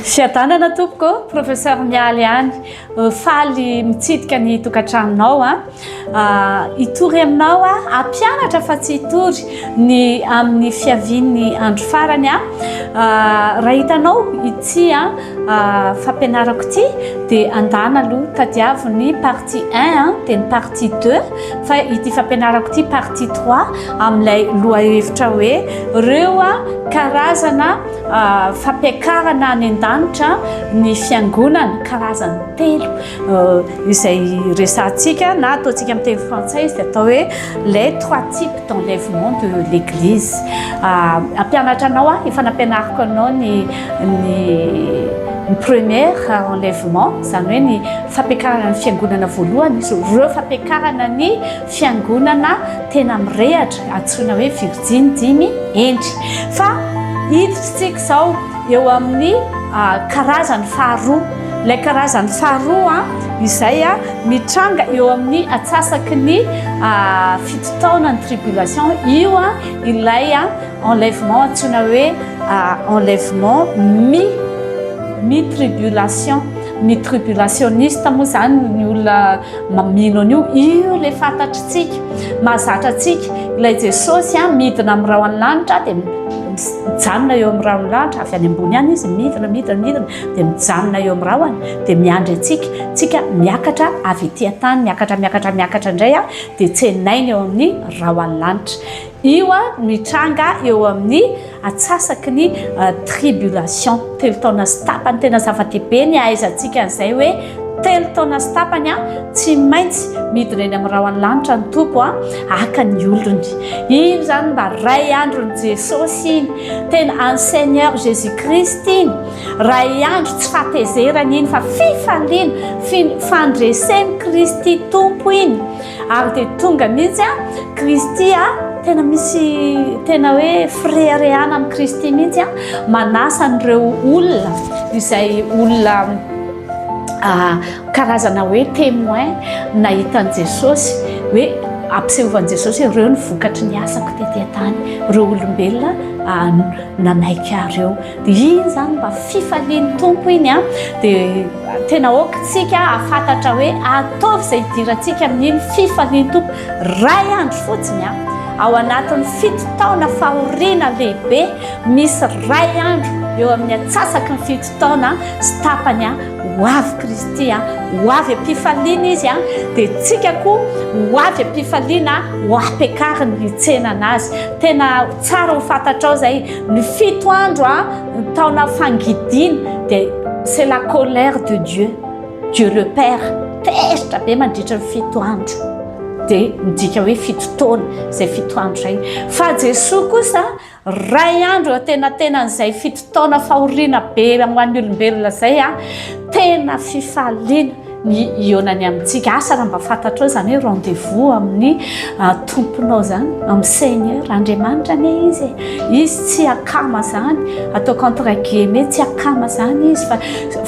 Fiadanana tompoko, professeur Mialy ihany. Euh, faly mitsidika ny tokantranonao a. Ah. ah, hitory aminao a, hampianatra fa tsy hitory ny amin'ny fiavian'ny andro farany a. Ah, raha hitanao ity a, ah, fampianarako ity dia andana aloha tadiavo ny partie 1 a, dia ny partie 2. Fa ity fampianarako ity partie trois amin'ilay lohahevitra hoe ireo karazana fampiakarana any an-danitra ny fiangonana karazany telo izay resahantsika na ataontsika amin'ny teny frantsay izy dia atao hoe les trois types d'enlèvement de l'église ampianatra anao aho efa nampianariko anao ny ny première enlèvement izany hoe ny fampiakarana ny fiangonana voalohany izy ireo fampiakarana ny fiangonana tena mirehatra antsoina hoe virjiny dimy endry fa hiditrintsika izao eo amin'ny ah, karazany faharoa ilay karazany faharoa ah, izay ah, mitranga eo amin'ny atsasaky ny fito taona ny tribulation io a ilay a enlèvement antsoina hoe enlèvement mi mi tribulation Ny tribulationiste moa zany ny olona mino an'io, io ilay fantatritsika, mahazatra antsika. Ilay Jesosy an, midina amin'ny rahon'ny lanitra dia mijanona eo amin'ny rahon'ny lanitra, avy any ambony any izy midina, midina, midina dia mijanona eo amin'ny rahony dia miandry antsika. Tsika miakatra avy ety an-tany, miakatra, miakatra, miakatra indray an, dia tsenaina eo amin'ny rahon'ny lanitra. Io no hitranga eo amin'ny atsasaky ny tribulation. Telo taona sy tapany. Tena zava-dehibe ny hahaizantsika an'izay hoe telo taona sy tapany tsy maintsy midina eny amin'ny rahon'ny lanitra ny Tompo haka ny olony. Iny izany mba ray andron'i Jesosy iny. Tena an'i Seigneur Jésus Christ iny. Ray andro tsy fahatezerana iny fa fifaliana, fandresen'i Kristy Tompo iny. Ary dia tonga mihitsy a Kristy a tena misy tena hoe fireharehana amin'i Kristy mihitsy a manasa an'ireo olona izay olona karazana hoe témoin nahita an'i Jesosy hoe ampisehovan Jesosy ireo ny vokatry ny asako tety an-tany ireo olombelona nanaiky ahy ireo Dia iny izany mba fifalian'ny Tompo iny a, dia tena aokantsika hahafantatra hoe ataovy izay hidirantsika amin'iny fifalian'ny Tompo. Iray andro fotsiny a, ao anatin'ny fito taona fahoriana lehibe, misy iray andro eo amin'ny atsasaky ny fito taona sy tapany a, ho avy Kristy a, ho avy am-pifaliana izy a, dia tsika koa ho avy am-pifaliana ho ampiakariny ny tsenana azy. Tena tsara ho fantatrao izay. Ny fito andro a, ny taona fangidiana dia c'est la colère de Dieu, Dieu le Père, tezitra be mandritra ny fito andro. Dia midika hoe fito taona izay fito andro izay. Fa Jesoa kosa ray andro eo antenatenan'izay fito taona fahoriana be ho an'ny olombelona izay a, tena fifaliana. ny hihaonany amintsika asa raha mba fantatrao izany hoe rendez-vous amin'ny ah, tomponao izany amin'ny seigneur andriamanitra anie izy e. izy tsy akama izany ataoko entre guillemets tsy akama izany izy fa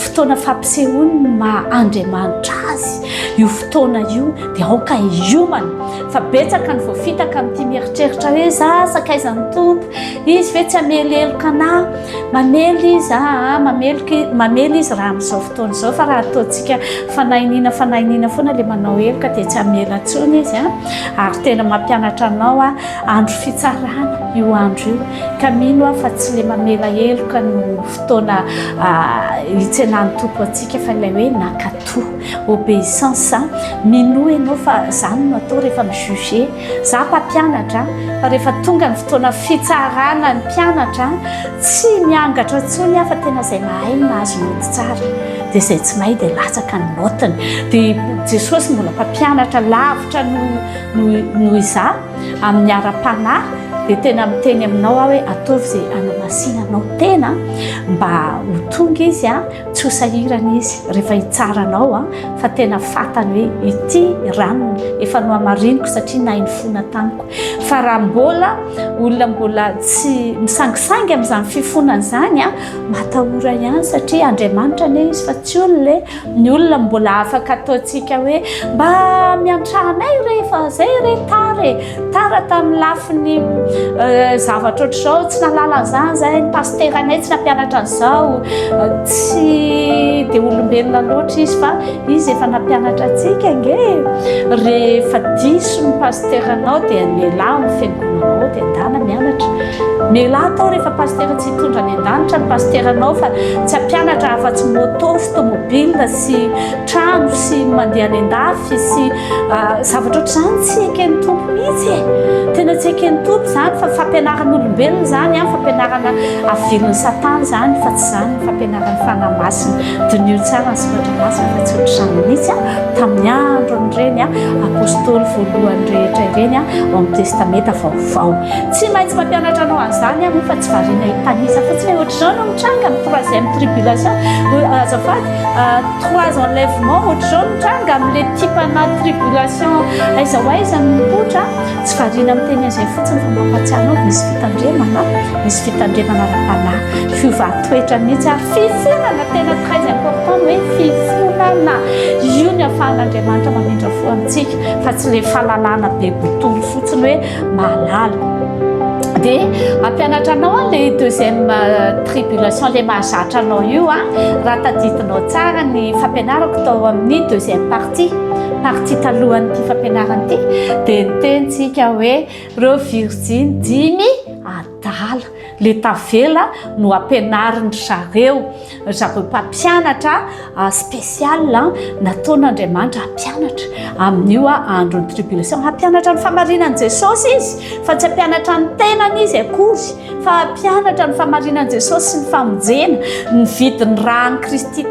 fotoana fampisehoany ny maha andriamanitra azy io fotoana io dia aoka hiomana fa betsaka ny voafitaka amin'ity mieritreritra hoe za sakaiza ny tompo izy ve tsy ameloheloka anà Mamely izy, aa, mameloka, mamely izy raha amin'izao fotoana izao, fa raha ataontsika fanahiniana, fanahiniana foana ilay manao heloka dia tsy hamela intsony izy an, ary tena mampianatra anao an, andro fitsarana io andro io, ka mino aho fa tsy ilay mamela heloka no fotoana hitsenan'ny Tompo antsika, fa ilay hoe nankato, obeissance, minoa ianao fa izany no atao rehefa mi-juger. Za mpampianatra fa rehefa tonga ny fotoana fitsarana ny mpianatra tsy miangatra intsony aho fa tena izay mahay no mahazo note tsara dia izay tsy mahay dia latsaka ny noteny dia Jesosy mbola mpampianatra lavitra noho izaho amin'ny ara-panahy dia tena miteny aminao aho hoe ataovy izay anamasinanao tena mba ho tonga izy a tsy ho sahirana izy rehefa hitsara anao a fa tena fatany hoe ity ranony efa no amariniko satria nainy fona tamiko fa raha mbola olona mbola tsy misangisangy amin'izany fifonana izany a matahora ihany satria andriamanitra ne izy fa tsy olona e ny olona mbola afaka ataontsika hoe mba miantrahanay rehefa zay re tare Tara tamin'ny lafiny zavatra ohatr'izao tsy nahalala an'izany izay ny pasteranay tsy nampianatra an'izao tsy dia olombelona loatra izy fa izy efa nampianatra antsika nge rehefa diso ny pasteranao dia mialà amin'ny fiangonanao dia andana mianatra mialà atao rehefa pastera tsy hitondra any an-danitra ny pasteranao fa tsy hampianatra afa-tsy moto sy tomobile sy trano sy mandeha any an-dafy sy Ah, zavatra ohatr'izany tsy eken'ny tompo mihitsy e tena tsy eken'ny tompo zany fa fampianaran'olombelona zany a fampianarana avilin'ny satana zany fa tsy zany fampianaran'ny fanahy masina diniho tsara ny soratra masina fa tsy ohatr'izany mihitsy a tamin'ny andron'ireny a apostoly voalohany rehetra ireny a ao amin'ny testamenta vaovao tsy maintsy mampianatra anao an'izany a moa fa tsy variana hitanisa fotsiny ohatr'izao no mitranga ny troisième tribulation azafady trois enlèvements ohatr'izao nitranga amin'ilay tipana tribulation aiza ho aiza no mipoitra tsy variana miteny an'izay fotsiny fa mampahatsiahy anao misy fitandremana misy fitandremana ara-panahy fiovan-toetra mihitsy ary fifonana tena très important hoe fifonana io ny afahan'Andriamanitra mamindra fo amintsika fa tsy ilay fahalalana be botolo fotsiny hoe mahalala de ampianatra anao an le deuxième euh, tribulation le mahazatra anao io a raha tadidinao tsara ny fampianarako tao amin'ny deuxième partie partie talohan'ity fampianarana ity de nitentsika hoe reo virjiny dimy dahalo, le tavela no ampianarin dry zareo, ry zareo mpampianatra special nataon Andriamanitra hampianatra amin io andro ny tribulation, hampianatra ny famarinan Jesosy izy fa tsy hampianatra ny tenany izy akory fa hampianatra ny famarinan Jesosy sy ny famonjena, ny vidin ran Kristy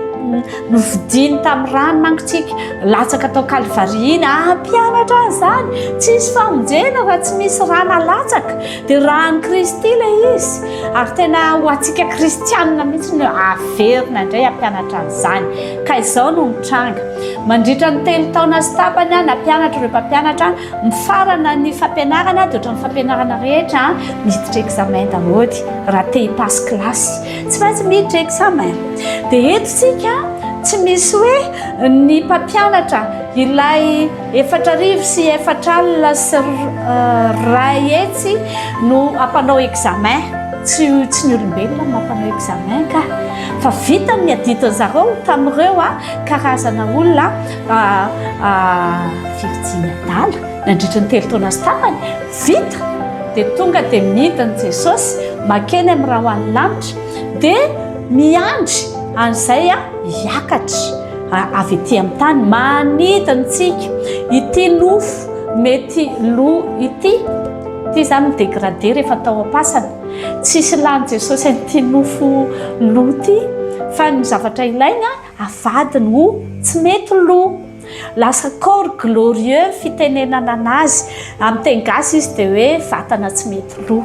novidiny tamin rano mankotsika latsaka tao kalvary iny, hampianatra an zany, tsisy famonjena raha tsy misy ra nalatsaka. Dia raha an'i Kristy ilay izy, ary tena ho antsika kristianina mihitsy no averina indray hampianatra an'izany. Ka izao no mitranga. Mandritra ny telo taona sy tapany aho nampianatra ireo mpampianatra. Mifarana ny fampianarana dia ohatran'ny fampianarana rehetra miditra examen daholo raha te hipasse classe. Tsy maintsy miditra examen. Dia eto isika tsy misy hoe ny mpampianatra ilay Efatra arivo sy efatra alina sy iray hetsy no hampanao examen. Tsy tsy ny olombelona no mampanao examen ka. Fa vitany ny adidiny zareo tamin'ireo karazana olona virjiny adala nandritra ny telo taona sy tapany. Vita! Dia tonga dia midina i Jesosy mankeny amin'ny rahona lanitra dia miandry an'izay hiakatra. avy ety amin'ny tany manidina antsika ity nofo mety lo ity ity izany midégradé rehefa tao am-pasana tsisy lany jesosy an'ity nofo lo ity fa ny zavatra ilaina avadiny ho tsy mety lo lasa corps glorieux fitenenana anazy amin'ny teny gasy izy dia hoe vatana tsy mety lo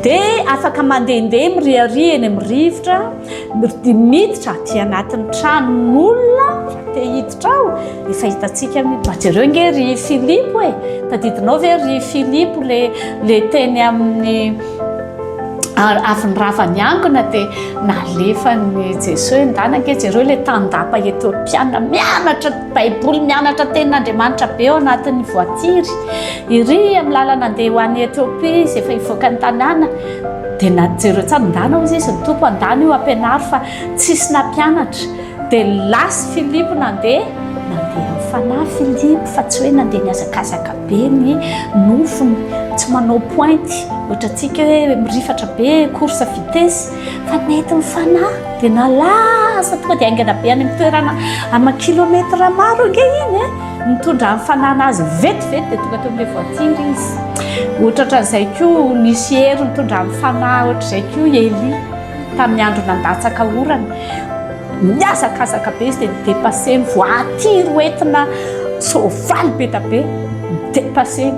Dia afaka mandehandeha miriaria eny amin'ny rivotra, dia miditra aty anatin'ny tranon'olona raha te hiditra ao. Efa hitantsika ny mba jereo nge ry Filipo e, tadidinao ve ry Filipo le le teny amin'ny avy ny rava niangona dia nalefan'i Jesoa hoe ndana nge jereo le tandapa Etiopiana mianatra Baiboly, mianatra tenin'Andriamanitra be ao anatin'ny voatiry. Iry amin'ny lalana andeha ho any Etiopia izy efa hivoaka ny tanàna dia na jereo tsara ndana hozy izy ny tompo andana io ampianaro fa tsisy nampianatra dia lasy Filipo nandeha nandeha amin'ny fanahy Filipo fa tsy hoe nandeha nihazakazaka be ny nofony tsy manao pointy ohatra antsika hoe mirifatra be course vitesse fa nety ny fanahy dia nalaza tonga dia haingana be any amin'ny toerana ama kilometre maro ange iny e Nitondra ny fanana azy vetivety dia tonga teo amin'ilay voatsindry izy. Ohatra ohatran'izay koa nisy hery nitondra ny fanahy ohatr'izay koa Elia tamin'ny andro nandatsaka orana. Nihazakazaka be izy dia nidepaseny, voatiry ho entina soavaly be dia be, nidepaseny.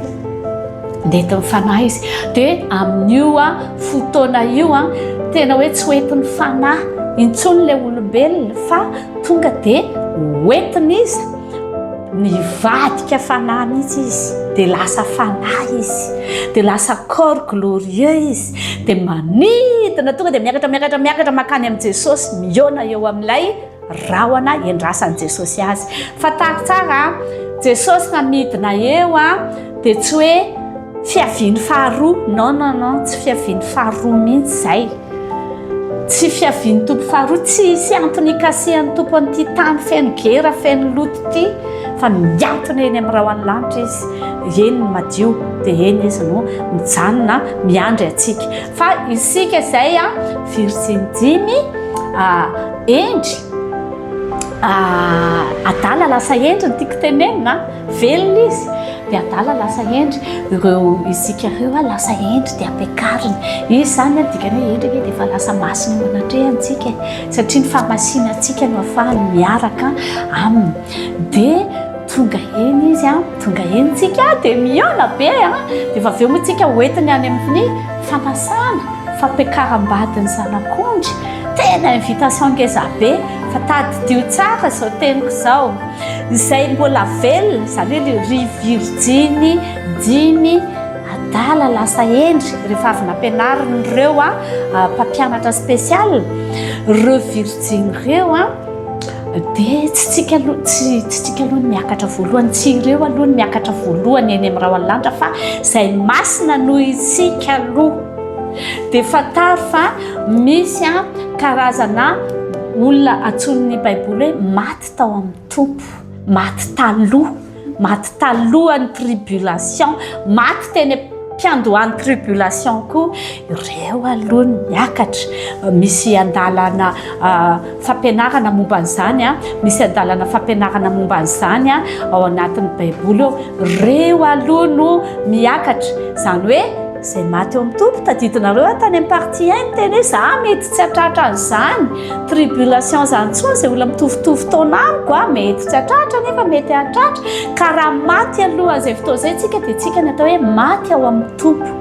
Nentin'ny fanahy izy. Dia amin'io fotoana io tena hoe tsy hoentin'ny fanahy intsony ilay olombelona fa tonga dia hoentin'iza? Nivadika fanahy mihitsy izy, dia lasa fanahy izy, dia lasa corps glorieux izy, dia manidina tonga dia miakatra miakatra miakatra makany amin'i Jesosy, mihaona eo amin'ilay rahona endrasan'i Jesosy azy. Fantaro tsara an! Jesosy raha midina eo an, dia tsy hoe. Fiaviany faharoa, non non non, tsy fiaviany faharoa mihitsy izay. Tsy fiaviany Tompo faharoa, tsy hisy antony hikasihan'ny Tompo an'ity tany feno gera, feno loto ity, fa mihantona eny amin'ny rahon'ny lanitra Izy, eny ny madio, dia eny Izy no mijanona miandry antsika. Fa isika izay an, virjiny dimy, hendry, adala lasa hendry no tiako tenenina an. Velona izy dia adala lasa hendry ireo isika ireo a lasa hendry dia ampiakariny izy izany a dikany hoe hendry anie dia efa lasa masina eo anatrehantsika satria ny fahamasina antsika no afahany miaraka aminy dia tonga eny izy a tonga eny tsika dia miona be a dia efa avy eo moa tsika hoentiny any amin'ny fanasana fampiakaram-badin'ny zanak'ondry tena invitation ngeza be fa tadidio tsara izao teniko izao Izay mbola velona, izany hoe le ry virjiny dimy adala lasa hendry rehefa avy nampianarin'ireo a mpampianatra spécial ireo virjiny ireo a dia tsy tsika aloha tsy tsy tsika aloha ny miakatra voalohany tsy ireo aloha ny miakatra voalohany eny amin'ny raoalanitra fa izay masina noho isika aloha dia fantaro fa misy a karazana olona antsoin'ny baiboly hoe maty tsy tao amin'ny tompo maty taloha maty talohan'ny tribulation maty teny am-piandohan'ny tribulation koa ireo aloha ny miakatra misy andalana fampianarana momba an'izany a misy andalana fampianarana momba an'izany a ao anatin'ny baiboly eo ireo aloha no miakatra izany hoe Izay maty eo amin'ny tompo, tadidinareo aho tany amin'ny partie 1 niteny hoe za mety tsy hatratra an'izany tribulation izany intsony izay olona mitovitovy taona amiko a, mety tsy hatratra nefa mety hahatratra ka raha maty alohan'izay fotoana izay isika dia isika no atao hoe maty ao amin'ny tompo.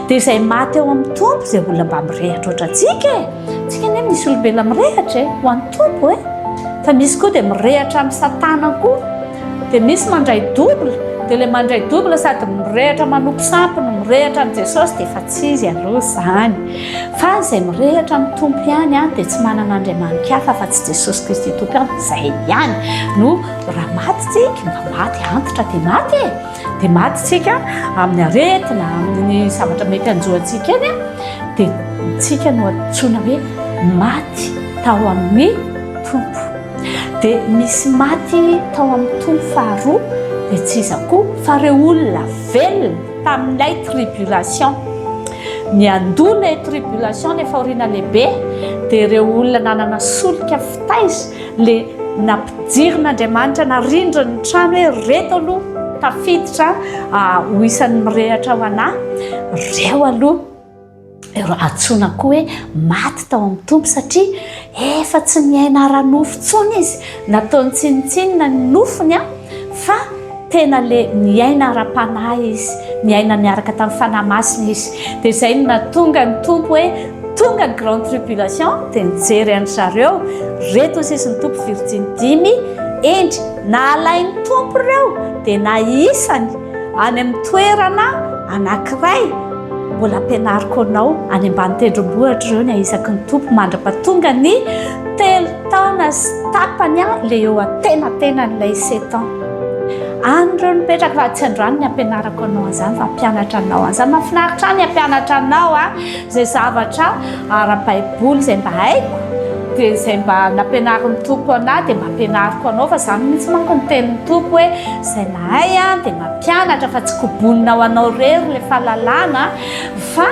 Dia izay maty ao amin'ny tompo izay olona mba mirehatra ohatrantsika e, isika anie misy olombelona mirehatra e, ho an'ny tompo e, fa misy koa dia mirehatra amin'i satana koa. Dia misy mandray double, dia ilay mandray double sady mirehatra manompo sampy no mirehatra amin'i Jesosy dia efa tsy izy aloha izany. Fa izay mirehatra amin'ny Tompo ihany dia tsy manana andriamanitra hafa afa-tsy Jesosy Kristy Tompo ihany, izay ihany no raha maty tsika mba maty antitra dia maty e, dia maty tsika amin'ny aretina, amin'ny zavatra mety hanjo antsika eny a, dia tsika no antsoina hoe maty tao amin'ny Tompo. Dia misy maty tao amin'ny tony faharoa, dia tsy iza koa fa ireo olona velona tamin'ilay tribulation. Ny andoha ilay tribulation, ilay fahoriana lehibe, dia ireo olona nanana solika fitaiza, ilay nampidirin'Andriamanitra, narindriny ny trano hoe reto aloha tafiditra ho isan'ny mirehatra ho anà, ireo aloha. Ireo antsoina koa hoe maty tao amin'ny Tompo satria efa tsy miaina ara-nofo intsony izy. Nataony tsinontsinona ny nofony fa tena le miaina ara-panahy izy, miaina miaraka tamin'ny Fanahy Masina izy. Dia izay no nahatonga ny Tompo hoe tonga ny grande tribulation dia nijery an-dry zareo reto ny sisin'ny Tompo virjiny dimy hendry. Nahalain'ny Tompo ireo dia nahisany Any amin'ny toerana anankiray, mbola ampianariko anao any ambany tendrombohitra ireo ny ahisaky ny tompo mandra-pahatonga ny telo taona sy tapany an, ilay eo antenatenan'ilay sept ans. Any ireo no mipetraka raha tsy androany ny ampianarako anao an'izany fa hampianatra anao an'izany. Mahafinaritra ahy ny hampianatra anao an, Izay zavatra ara-baiboly izay mba haiko dia izay mba nampianarin'ny Tompo anah dia mba ampianariko anao fa izany mihitsy manko ny tenin'ny Tompo hoe izay mahay an dia mampianatra fa tsy kobonina ho anao irery ilay fahalalana fa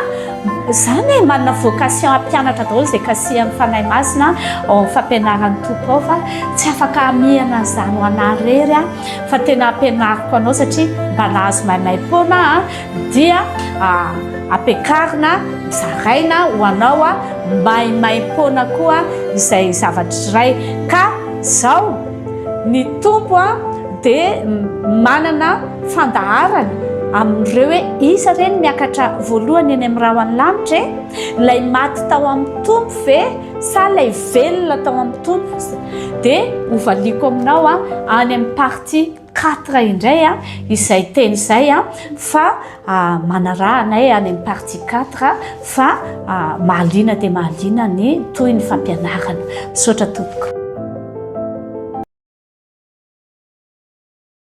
izany hoe manana vocation hampianatra daholo izay kasihan'ny Fanahy Masina ao amin'ny fampianaran'ny Tompo ao fa tsy afaka hamihana an'izany ho anah irery aho fa tena ampianariko anao satria mba nahazo maimay foana aho dia ampiakarina, zaraina ho anao maimaim-poana koa izay zavatra iray ka izao ny Tompo dia manana fandaharana amin'ireo hoe iza re ny miakatra voalohany eny amin'ny rahon'ny lanitra e? Ilay maty tao amin'ny Tompo ve sa ilay velona tao amin'ny Tompo? Dia hovaliako aminao any amin'ny partie Quatre indray a, izay teny izay a, fa manaraha anay any amin'ny partie quatre fa mahaliana dia mahaliana ny toy ny fampianarana. Misaotra tompoko.